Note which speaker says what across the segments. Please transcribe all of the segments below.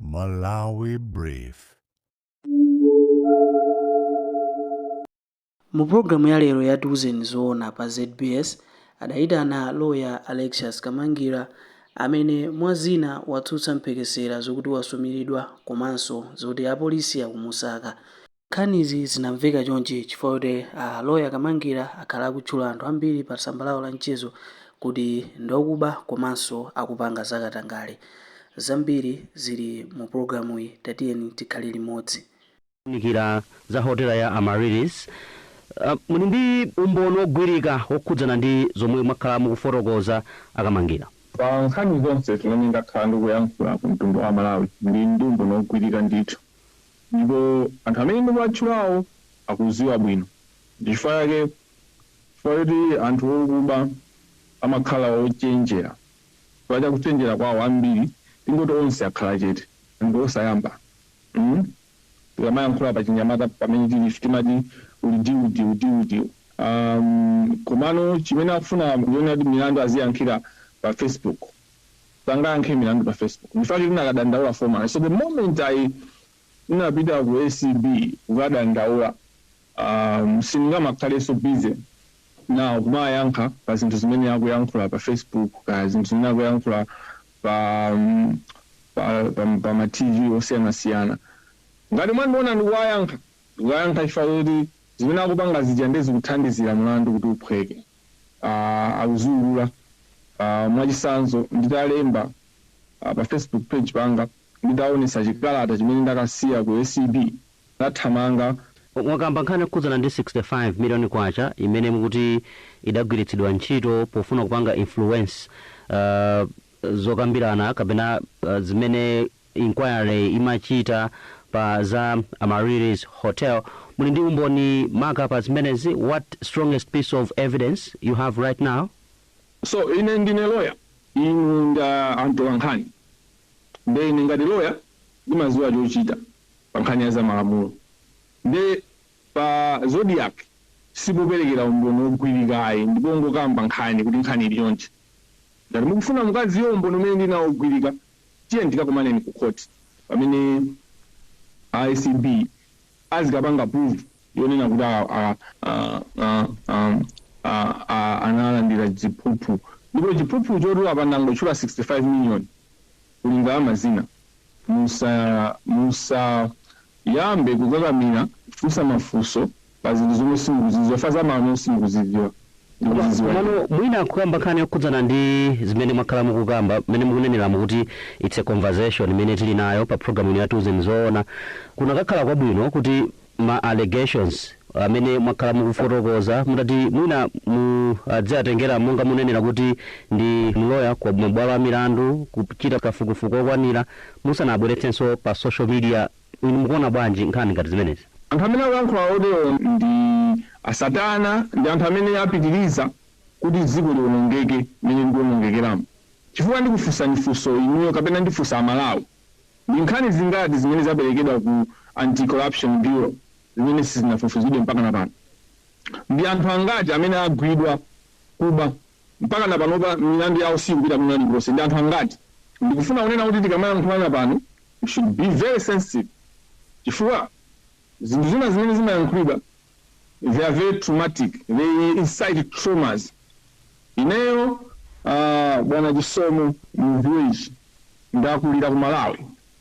Speaker 1: Malawi
Speaker 2: Brief. Mu programu ya lero ya Tiuzeni Zoona pa zbs, adaitana lawyer Alexious Kamangila amene mwa zina watsutsa mphekesera zokuti wasumiridwa komanso zoti apolisi akumusaka. Nkhanizi zinamveka chonchi chifukwa choti lawyer Kamangira akhala akutchula anthu ambiri pa tsamba lawo la mchezo kuti ndi okuba komanso akupanga za katangale. Zambiri zili mu pulogalamuyi tatiyeni tikhale limodzi.
Speaker 3: Zounikira za hotela ya Amaryllis muli ndi umboni wogwirika wokhudzana ndi zomwe mwakhala mukufotokoza a Kamangira? Pa nkhani
Speaker 4: zonse zimene ndakhala ndikuyankhula ku mtundu wa Amalawi ndili ndi umboni wogwirika ndithu. Ndipo anthu amene ndikuwatchulawo akudziwa bwino. Chifukwa chake, chifukwa choti anthu okuba amakhala ochenjera, chifukwa cha kuchenjera kwawo ambiri tingoti onse akhala chete. And osayamba. mm Tikamayankhula pa chinyamata pamene tilife timati uli diu diu diu diu. Um komano chimene akufuna akuti milandu aziyankhira pa facebook. sangayankhe milandu pa Facebook chifukwa choti ndinakadandaula formally so the moment ndinapita ku acb kukadandaula um sindingamakhalenso busy now kumayankha pa zinthu zimene akuyankhula pa Facebook kaya zinthu zimene akuyankhula pa um, pa, pa, pa ma TV osiyanasiyana ngati mwandiona ndikuwayankha ndikuwayankha chifukwa choti zimene akupanga zija ndi zikuthandizira mlandu kuti uphweke akuziulula mwachitsanzo nditalemba pa facebook page panga nditaonesa chikalata chimene ndakasiya ku acb nathamanga
Speaker 3: Mwakamba nkhani yokhudzana ndi 65 miliyoni kwacha imene mukuti idagwiritsidwa ntchito pofuna kupanga influence zokambirana kapena zimene Inquiry imachita pa za Amaryllis Hotel, muli ndi umboni maka pa zimenezi, what strongest piece of evidence you have right now? So
Speaker 4: ine ndine lawyer, inu nda atolankhani nde ine ngati lawyer ndimaziwa chochita pa nkhani ya za malamulo nde Pa Zodiak sipoperekera umboni wogwirika ayi, ndi pongokamba nkhani kuti nkhani ili chonche. Ngati mukufuna mukadziwe umboni umene ndili nawo wogwirika, tiyeni tikakumaneni ku court pamene a acb azikapanga prove yonena kuti analandira ziphuphu ndipo chiphuphuchotu apa ndangotchula 65 million. kulinga mazina. Musa musayambe kukakamira kufunsa mafunso pa zinthu zomwe simukuzidziwa chifukwa za malamulo simukuzidziwa. Koma
Speaker 3: Ndikuzidziwa komano ine. mwina kukamba nkhani yokhudzana ndi zimene mwakhala mukukamba mmene mukuneneramu kuti it's a conversation imene tili nayo pa program ino ya tiuzeni zoona kunakakhala kwabwino kuti ma allegations amene mwakhala mukufotokoza mutati mwina mudziatengera monga munenera kuti ndinu lawyer ku mabwalo a milandu kuchita kafukufuku okwanira musanabweretsenso pa social media inu mukuona bwanji nkhani ngati zimenezi? Anthu amene
Speaker 4: akuyankhula oterowo ndi asatana ndi anthu amene apitiriza kuti dziko liwonongeke mmene likuonongekeramo. Chifukwa ndikufunsani funso inuyo kapena ndifunsa Amalawi? Ndi nkhani zingati zimene zaperekedwa ku Anti-Corruption Bureau zimene sizinafufuzidwe mpakana pano? Ndi anthu angati amene agwidwa kuba mpakana panopa milandu yawo siikupita kwina kulikonse? Ndi anthu angati? Ndikufuna kunena kuti tikamayankhulana pano we should be very sensitive chifukwa zinthu zina zimene zimayankhulidwa they are very traumatic they incite traumas ineyo aah bwana chisomo muziwe ichi ndakulira ku malawi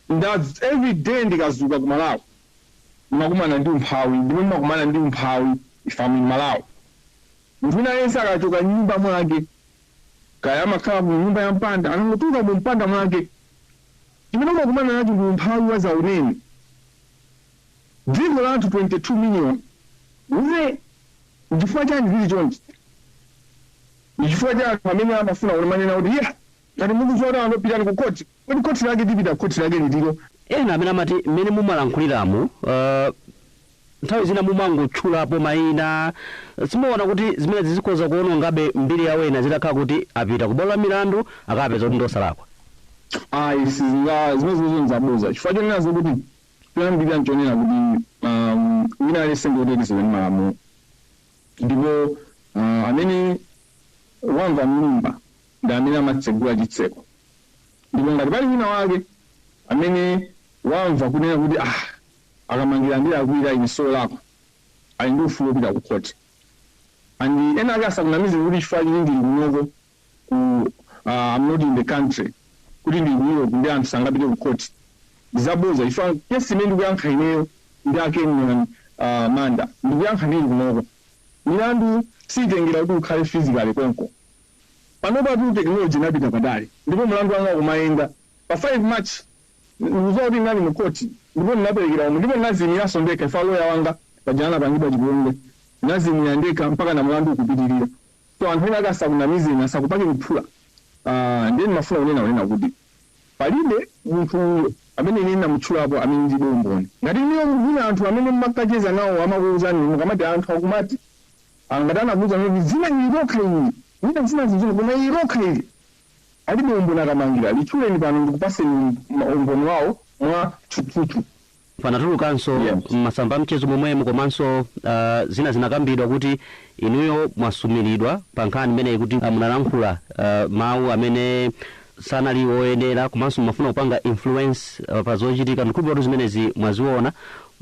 Speaker 4: and every day ndikazuka ku malawi ndimakumana ndi umphawi ndipo ndimakumana ndi umphawi if am in malawi munthu wina aliyense akachoka mnyumba mwake kaya amakhala ku nyumba ya mpanda akangotuluka mu mpanda mwake chimene umakumana nacho ndi umphawi wa zaoneni Dziko la anthu 22 million why? Nchifukwa chani zili chonchi? Ndi chifukwa cha anthu amene amafuna kumanena kuti yeah ngati mukudziwa kuti ano pitani ku court. Kodi court lake tipita court lake litilo? Ena amene amati
Speaker 3: mmene mumalankhuliramu uh, nthawi zina mumangotchulapo maina simuona kuti zimenezi zikhoza kuonongabe mbiri yawo ena zitakhala kuti apita ku bwalo la milandu akapeza kuti ndi osalakwa? Ayi sizinga
Speaker 4: zimenezo nzaboza chifukwa chonena zokuti Choyambirira n'chonena kuti wina aliyense ndi wotetezedwa ndi malamulo, ndipo amene wamva m'mimba ndi amene amatsegula chitseko. Ndipo ngati pali wina wake amene wamva kunena kuti, Ah, a Kamangila andilakwira ine si wolakwa, ali ndi ufulu wopita kukhoti. And enaake asakunamizeni kuti chifukwa choti ndili kunoko ku uh, I'm not in the country kuti ndili ku Europe ndi anthu sangapite ku court ndi zaboza chifukwa kesi imene ndikuyankha ineyo ndi a Kenan uh, manda ndikuyankha ndili kunoko milandu siitengera kuti ukhale physically konko panopatu technology inapita patali ndipo mlandu wanga umayenda pa 5 march ndikuziwa kuti ndinali mu court ndipo ndinaperekera umu ndipo ndinaziimiranso ndekha chifukwa loya wanga paja anapangidwa chipongwe ndinaziimira ndekha mpakana mlandu ukupitirira So anthu ena ake asakunamizeni asakupake kuphula aah ndiye ndimafuna kunena kunena kuti palibe munthu uyo amene ine ndinamutchulapo amene ndilibe umboni ngati inuyo mwina anthu amene mumakacheza nawowo amakuuzani inu mukamati anthu akumati aah ngati anakuuzani kuti dzina ili lokha ili mwina zinazo zina koma ili lokha ili alibe umboni a Kamangila litchuleni pano ndikupaseni um umboni wawo mwa tchutchutchu.
Speaker 3: Panatulukanso Yes. m'masamba amchezo momwemu komanso uh, zina zinakambidwa kuti inuyo mwasumiridwa pa nkhani imeneyi kuti ah, munalankhula uh, mawu amene sanali oyenera komanso mumafuna kupanga influence uh, pa zochitika ndikuhopa kuti zimenezi mwaziona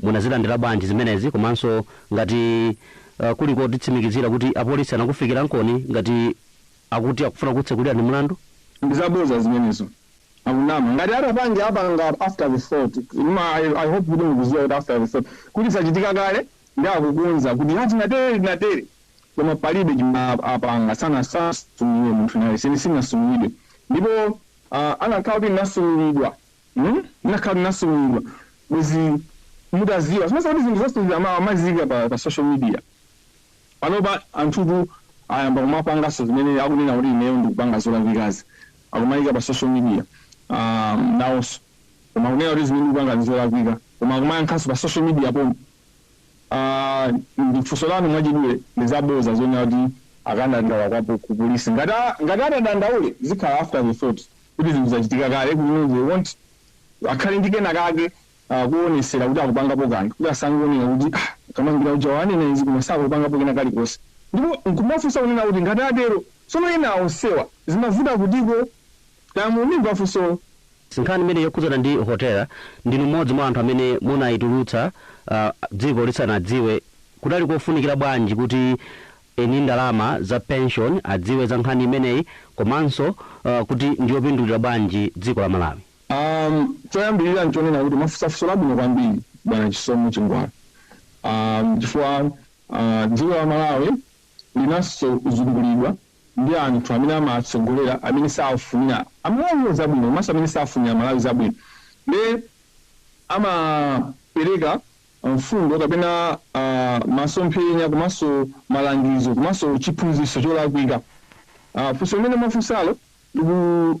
Speaker 3: munazilandira bwanji zimenezi komanso ngati uh, kuli kotitsimikizira kuti apolisi anakufikirankoni ngati akuti akufuna kutsekulirani mlandu ndizaboza
Speaker 4: zimenezo akunama ngati atapange apanga after the thought koma i hope kuti mukudziwa kuti after the thought kuti zachitika kale nde akukonza kuti aa tinatere tinatere koma palibe chimene apanga sana sanasumulidwe munthu ine ine sinasumulidwe ndipo uh, anakhala kuti nasumulidwa mm? nakhala kuti nasumulidwa bwezi mutadziwa si mwasa kuti zinthu zonse zama- amaziyika pa, pa social media Panopa anthutu ayamba kumapangaso zimene akunena kuti ineyo ndikupanga zolakwikazi akumaika pa social media nawoso koma akunena kuti zimene ndikupanga ndizolakwika koma akumayankhaso pa social media pompo aah ndi funso lanu mwachidule ndi zaboza zonena kuti akandidandaulapo ku police ngati ngati atadandaule zikakhala after the thought kuti zinthu zachitika kale kuti no they want akhale ndi kena kake. kuonesera kuti akupangapo kanthu kuti asangonena kuti ah Kamangila uja wanena izi koma sakupangapo kena kalikose ndipo nkumafunsa kunena kuti ngati atero sono ena onsewa zimavuta kutiko kaya mukundimva funsolo? Nkhani imeneyi
Speaker 3: yokhudzana ndi hotel ndinu mmodzi mwa anthu amene munayitulutsa dziko lisanadziwe, kunali kofunikira bwanji kuti eni ndalama za pension adziwe za nkhani imeneyi komanso kuti ndiyopindulira bwanji dziko la Malawi? A,
Speaker 4: choyambilira nchonena kuti mwafunsa funso labwino kwambiri bwana Chisomo Chingwala a chifukwa a dziko la Malawi linazungulidwa ndi anthu amene amatsogolera amene safunira a Malawiwo zabwino komanso amene safunira Malawi zabwino nde amapereka mfundo kapena a masomphenya komanso malangizo komanso chiphunzitso cholakwika. A, funso limene mwafunsalo liku.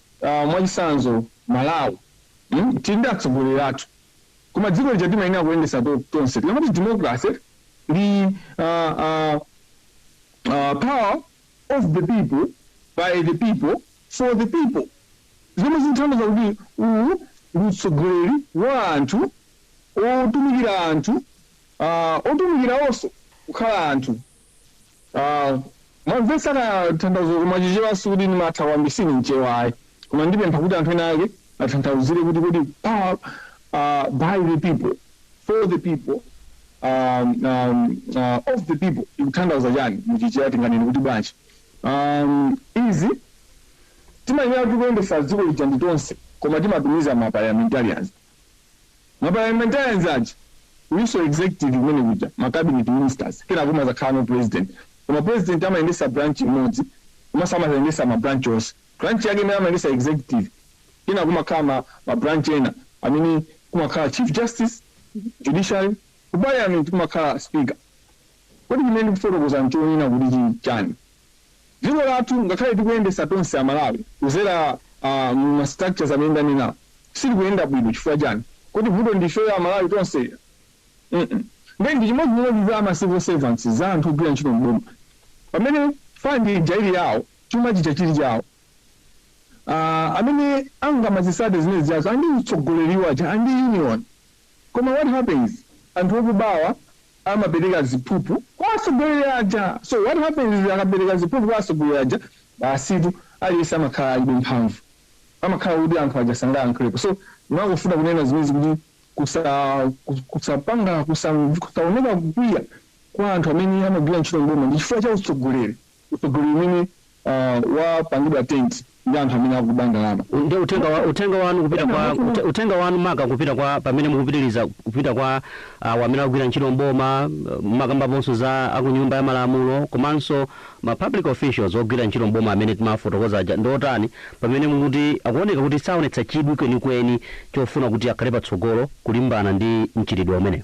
Speaker 4: mwachisanzo Malawi tili ndi atsogoleri athu koma dziko lija timayenera kuyendesa tonse tikamati democracy ndi power of the people by the people for the people zomwe zikutanthauza kuti uwu ndi utsogoleri wa anthu otumikira anthu otumikirawonso kukhala anthu. Ah, mwamvetsa tanthauzo koma chichewa sikuti ndimatha kwambiri sindine mchewa ayi koma ndipempha kuti anthu ena ake atanthauzire kuti kodi power uh, by the people for the people um, um, uh, of the people ikutanthauza chani muchichewa tinganene kuti bwanji um, izi timayenera kuti kuyendesa dziko lija ndi tonse koma timatumiza ma parliamentarians Ma parliamentarians aja kulinso executive kumene kuja ma cabinet ministers kenako kumazakhalano president koma president amayendesa branch imodzi koma samayendesa ma branch onse branch yake imene amayendesa ndi executive kenako kumakhala ma ma branch ena amene kumakhala chief justice, judiciary, ku parliament kumakhala speaker. Kodi chimene ndikufotokoza nchonena kuti chi chani? Dziko lathu ngakhale tikuyendesa tonse amalawi kuzera a mu ma structures amene ndanena silikuyenda bwino chifukwa chani? Kodi vuto ndi ifeyo amalawi tonse? mm nde ndi chimodzimodzi za ma civil servants za anthu ogwira ntchito m'boma pamene fund ija ili yawo chuma chija chili chawo aah amene angamazisate zimene zijazo andi utsogoleriwo aja andi union. Koma what happens anthu okubawa amapereka ziphuphu kwa atsogoleri aja so what happens akapereka ziphuphu kwa atsogoleri aja basitu aliyense amakhala alibe mphamvu amakhala kuti anthu aja sangalankhulepo so ndimangofuna kunena zimenezi kuti kusa kusapanga kusaoneka kukwiya kwa anthu amene amagwira ntchito m'boma ndi chifukwa cha utsogoleri Utsogoleri umene wapangidwa taint ndi anthu amene akuba ndalama. Ndiye uthenga
Speaker 3: wa, uthenga wanu kupita kwa, ute, uthenga wanu maka kupita kwa pamene mukupitiliza kupita kwa awo amene akugwira ntchito m'boma, mwakambaponso za akunyumba ya malamulo komanso ma public officials ogwira ntchito m'boma amene timafotokoza aja ndi otani pamene mukuti akuoneka kuti saonetsa chidwi kwenikweni chofuna kuti akhale patsogolo kulimbana ndi mchitidwe umenewu?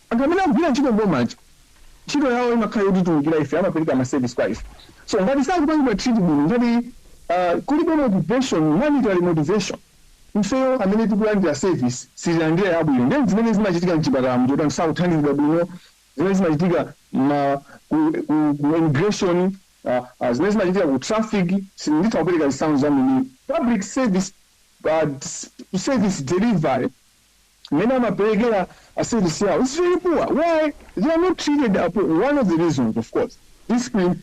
Speaker 4: Anthu amene akugwira ntchito m'boma aja ntchito yawo imakhala yotitumikira ife amapereka ma service kwa ife so ngati sakupangidwa treat bwino ngati kulibe motivation monetary motivation ifeyo amene tikulandira service sitilandira yabwino ndiye ndi zimene zimachitika mchipatala muja kuti anthu sakuthandizidwa bwino zimene zimachitika ma ku ku immigration zimene zimachitika ku traffic sinditha kupereka zitsanzo zambiri public service service delivery. mmene amapelekela service yawo is very poor why they are not treated appro one of the reasons of course discipline,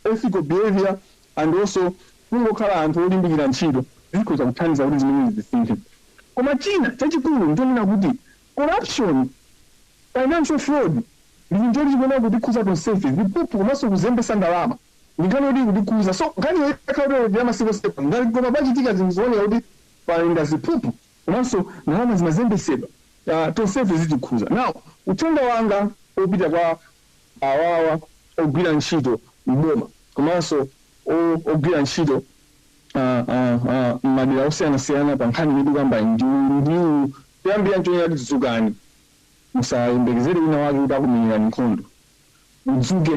Speaker 4: ethical behaviour and also kungokhala anthu olimbikira ntchito zikhoza kuthandiza kuti zimenezi zisinthe koma china chachikulu nchonena kuti corruption, financial fraud ndi chinthu choti chikuyenera kutikhuza tonsefe ziphuphu komanso kuzembesa ndalama ndi nkhani yoti ikutikhuza so nkhaniyo itakhala kuti yamasiku onse pano ngati koma pachitika zinthu zooneka kuti payenda ziphuphu komanso ndalama zimazembesedwa tonsefe zitikhuza now uthenga wanga opita kwa awawa ogwira ntchito m'boma komanso ogwira ntchito m'madera osiyanasiyana pa nkhani imene tikukambayi ndi uwu ndi uwu choyambirira nchonena kuti dzukani musayembekezere wina wake kuti akumenyerani nkhondo mudzuke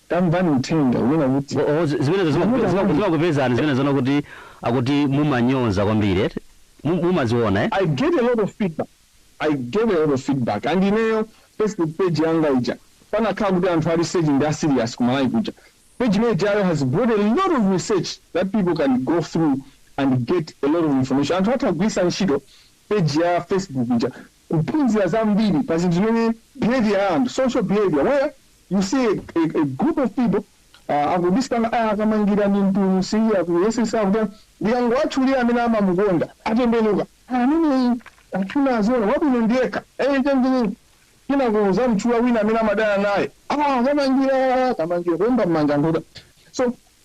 Speaker 4: Tamvani uthenga kunena kuti. Oh oh zimenezo zimakupezani zimenezo ona kuti akuti mumanyoza kwambiri eti mumaziona eh. I get a lot of feedback I get a lot of feedback and ineyo facebook page yanga ija panakhala kuti anthu a research ndi a serious ku Malawi kuja page imene ijayo has brought a lot of research that people can go through and get a lot of information anthu atha kugwiritsa ntchito page ya facebook ija kuphunzira zambiri pa zinthu zimene behavior ya anthu, social behavior, where you see a, a, a group of people uh, akudisipanga ah, akamangira ndi mpulusi akuyesetsa kuti ndikangowatchulira amene amamukonda atembenuka Ah, ameneyi afuna aziona wabwino ndiyekha eh, changireni kenako udzamtchula wina amene amadana naye ah, akamangira akamangira kuyimba mmanja anthu ota so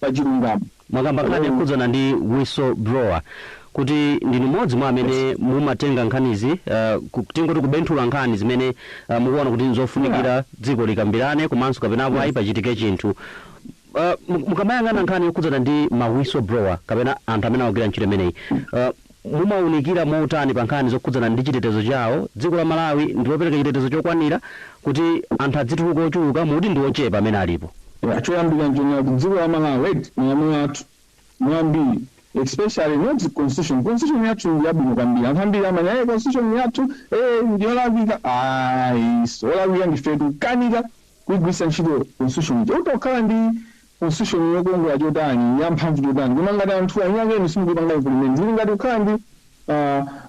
Speaker 3: pa chilungamo. Mwakamba nkhani yokhudzana ndi whistle blower kuti ndinu mmodzi mwa amene mumatenga nkhanizi tingoti kubenthula nkhani zimene mukuona kuti nzofunikira dziko likambirane komanso kapena apo ayi pachitike chinthu. Mukamayang'ana nkhani yokhudzana ndi ma whistle blower kapena anthu amene amagwira ntchito imeneyi mumaunikira motani pa nkhani zokhudzana ndi chitetezo chawo? Dziko la Malawi ndilopereka chitetezo chokwanira kuti anthu adzituluka ochuluka moti ndi ochepa amene alipo? Yeah, choyambirira nchonena
Speaker 4: kuti dziko la Malawi eti, malamulo athu, mwambiri, especially not constitution, constitution yathu ndi yabwino kwambiri, anthu ambiri amati eeh constitution yathu eeh ndiyolakwika, ayi, siolakwika ndifetu, kukanika kuigwiritsa ntchito constitution ija, utha kukhala ndi constitution yokongola chotani, yamphamvu chotani, koma ngati anthu anyake inu simukuipanga implement, zili ngati kukhala ndi uh,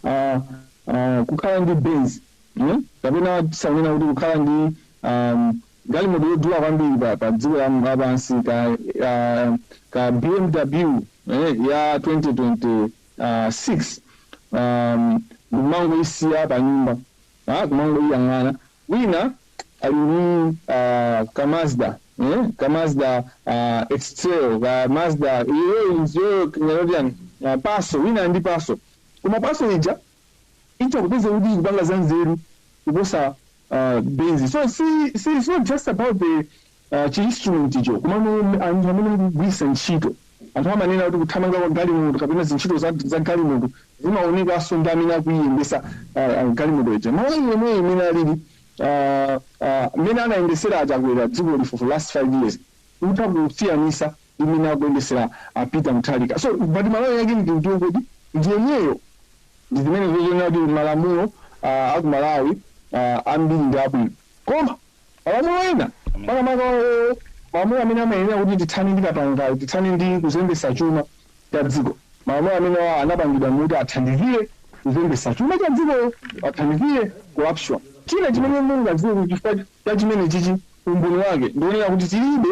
Speaker 4: uh, uh, kukhala ndi Benz mm? kapena tisaunena kuti kukhala ndi um, galimoto yodula kwambiri pa, pa dziko la- lapansi ka, uh, ka BMW eh, ya 2026 um, kumangoisiya pa nyumba ah, kumangoiyang'ana wina ali ndi a ka Mazda eh ka Mazda a X-trail ka Mazda iyoyo iyoyo ngati yani ah, paso wina ali ndi paso koma paso ija utha kupeza kuti ikupanga za nzeru kuposa uh, Benz. So see, see, it's not just about the a chi instrument cho komano anthu amene akugwiritsa ntchito anthu amanena kuti kuthamanga kwa galimoto kapena zintchito za za galimoto zimaonekanso ndi amene akuiyendesa a galimoto ija malawi yemweyi mene alili a a mene anayendesera a Chakwera dzikoli for for last 5 years utha kusiyanitsa ndi mene akuyendesera a Peter Mutharika so but malawi yake ndi ndiwo kuti ndiyemweyo ndi zimenezo zonena kuti malamulo a aku malawi a ambiri ndi abwino koma Malamulo ena, makamaka malamulo amene amayenera kuti tithane ndi katangale, tithane ndi kuzembetsa chuma cha dziko, malamulo amenewa anapangidwa moti athandizire kuzembetsa chuma cha dzikolo, athandizire corruption. China chimene mungadziwe kuti chifukwa cha chimenechichi umboni wake ndi wonena kuti tilibe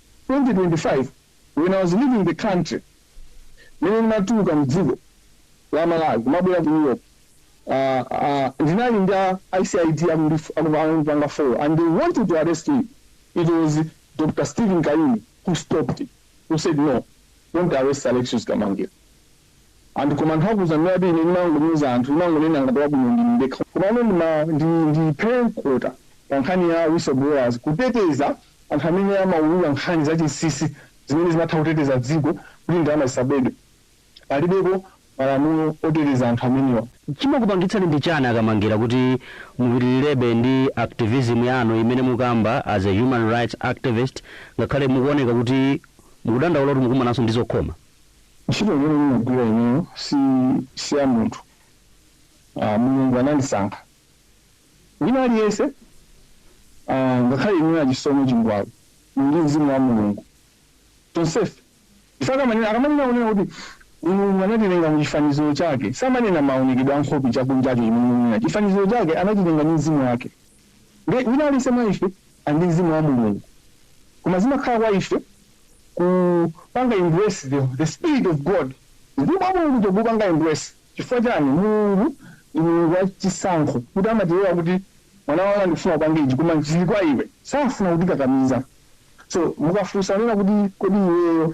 Speaker 4: 2025 when I was leaving the country mene ndinatuluka mdziko la Malawi kumabwera ku Europe uh uh ndinali ndi a ICID akundifu akundipanga follow and they wanted to arrest me it was Dr Steven Kayuni who stopped it who said no don't arrest Alexious Kamangila And koma anthu akuza mayb e ine ndimangonyoza anthu ndimangonena ngati wabwino ndine ndekha komano ndi ma ndi ndi peng kota pa nkhani ya whistleblowers kuteteza anthu amene amaulula nkhani za chinsinsi zimene zimatha kuteteza dziko kuti ndalama zisabedwe palibepo malamulo oteteza anthu amenewa. Chimakupangitsani
Speaker 3: ndi chani a Kamangila kuti mupitirirebe ndi activism yanu imene mukamba as a human rights activist ngakhale mukuoneka kuti mukudandaula kuti mukumananso ndi zokhoma? Ntchito
Speaker 4: imene ndimagwira ineyo si si ya munthu. Aaa Mulungu anandisankha. Wina aliyense aaa ngakhale inuyo a Chisomo Chingwalu muli ndi mzimu wa Mulungu. Tonsefe ife akamanena akamanena kunena kuti Mulungu anatilenga mu chifaniziro chake samanena maonekedwe a nkhope chakunjacho chimene akunena chifaniziro chake anatilenga ndi mzimu wake. Ndiye, wina aliyense mwa ife ali ndi Mzimu wa Mulungu, koma zimakhala kwa ife kupanga embrace the, the Spirit of God. Mzimu wa Mulungu uja kuwupanga embrace. Chifukwa chiyani? Mulungu ndi Mulungu wa chisankho, kuti amatilola kuti, Mwana wanga, ndikufuna upange ichi, koma chili kwa iwe. Safuna kutikakamiza. So mukafunsa kunena kuti kodi iweyo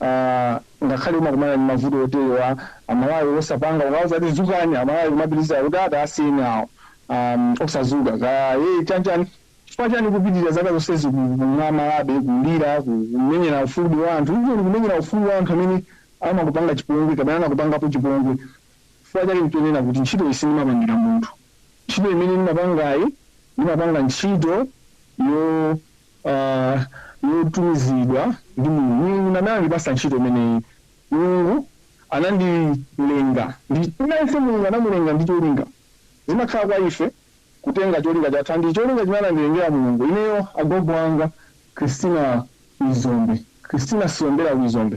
Speaker 4: uh, ngakhale umakumana ndi mavuto oterewa amalawi osapanga ukawauza ati dzukani amalawi kumapitiriza kuti ati asiyeni awo um, osadzuka kaya ye chanchani chifukwa chani kupitirira zaka zonsezi ku- kumwamalabe kulira ku- kumenyera ufulu wa anthu even kumenyera ufulu wa anthu amene amakupanga chipongwe kapena anakupangapo chipongwe Chifukwa chake nchonena kuti ntchitoyi sindimapangira munthu. Ntchito imene ndimapangayi, ndimapanga ntchito yo uh yotumizidwa ndi Mulungu. Mulungu ndi amene anandipatsa ntchito imeneyi. Mulungu anandilenga ndi. Aliyense Mulungu anamulenga ndi cholinga. Zimakhala kwa ife kutenga cholinga chathu and cholinga chimene anandilengera Mulungu ineyo agogo anga Christina Kwizombe, Christina Siyombera Kwizombe,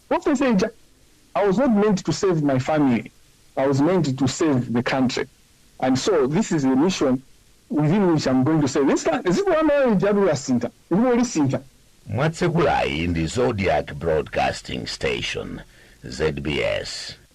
Speaker 4: Professor ija, I was not meant to save my family, I was meant to save the country and so this is the mission within which am going to serve. Dziko la Malawi lijatu lasintha ndipo lisintha. Mwatsekulayi
Speaker 1: ndi Zodiak Broadcasting Station, zbs.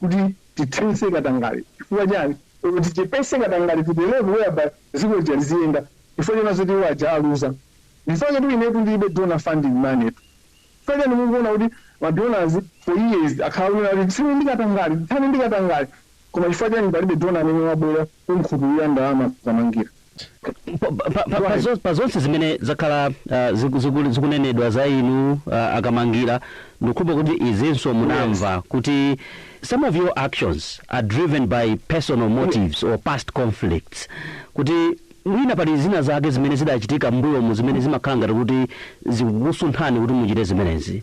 Speaker 4: kuti tithese katangale chifukwa chani or tichepese katangale to the level whereby dziko lija liziyenda chifukwa choona zoti iwo aja aluza chifukwa chotu inetu ndilibe donor funding money tu chifukwa chani mukuona kuti ma donors for years akhala akunena kuti tithane ndi katangale tithane ndi katangale koma chifukwa chani palibe donor amene wabwera kumukhutulira ndalama Kamangila Pa
Speaker 3: zonse zimene zakhala zikunenedwa za inu a Kamangila ndikukhulupira kuti izinso munamva kuti some of your actions are driven by personal motives or past conflicts kuti mwina pali zina zake zimene zidachitika mmbuyomu zimene zimakhala ngati kuti zikukusunthani kuti muchite zimenezi.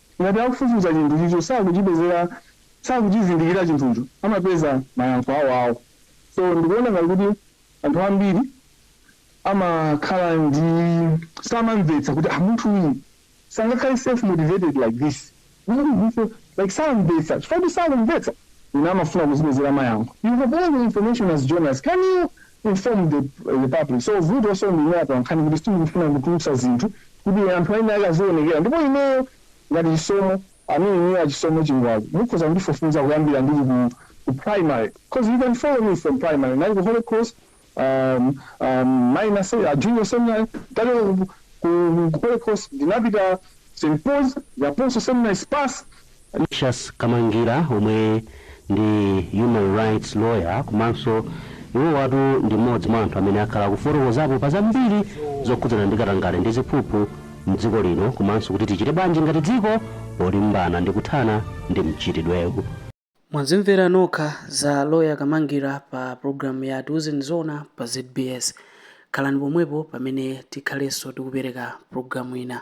Speaker 4: Ngati akufufuza chinthu chicho sakuchipezera sakuchizindikira chinthucho amapeza mayankho awo awo so ndikuona ngati kuti anthu ambiri amakhala ndi samamvetsa kuti ah munthu uyu sangakhale self motivated like this why is he so like samvetsa chifukwa kuti sakumvetsa ena amafuna kuzipezera mayankho you have all the information as journalist can you inform the the public so vuto so ndinuyo atolankhani kuti simukufuna kutulutsa zinthu kuti anthu eni ake azionera ndipo ineyo ngati chisomo I mean inuyo a chisomo chingwalu mukhoza kundifufuza kuyambira ndili ku ku primary coz you can follow me from primary nali ku holy cross um um minor se uh, junior seminary ntachoka ku ku ku holy cross ndinapita st paul's the apostle seminary spas Alexious
Speaker 3: Kamangila omwe ndi Human Rights Lawyer komanso Iwowatu ndi m'modzi mwa anthu amene akhala akufotokozapo pa zambiri zokhudzana ndi katangale ndi ziphuphu mdziko lino komanso kuti tichite bwanji ngati dziko polimbana ndi kuthana ndi mchitidwewu.
Speaker 2: Mwazimvera nokha za Lawyer Kamangila pa program ya Tiuzeni Zoona pa zbs. Khalani pomwepo pamene tikhalenso tikupereka program ina.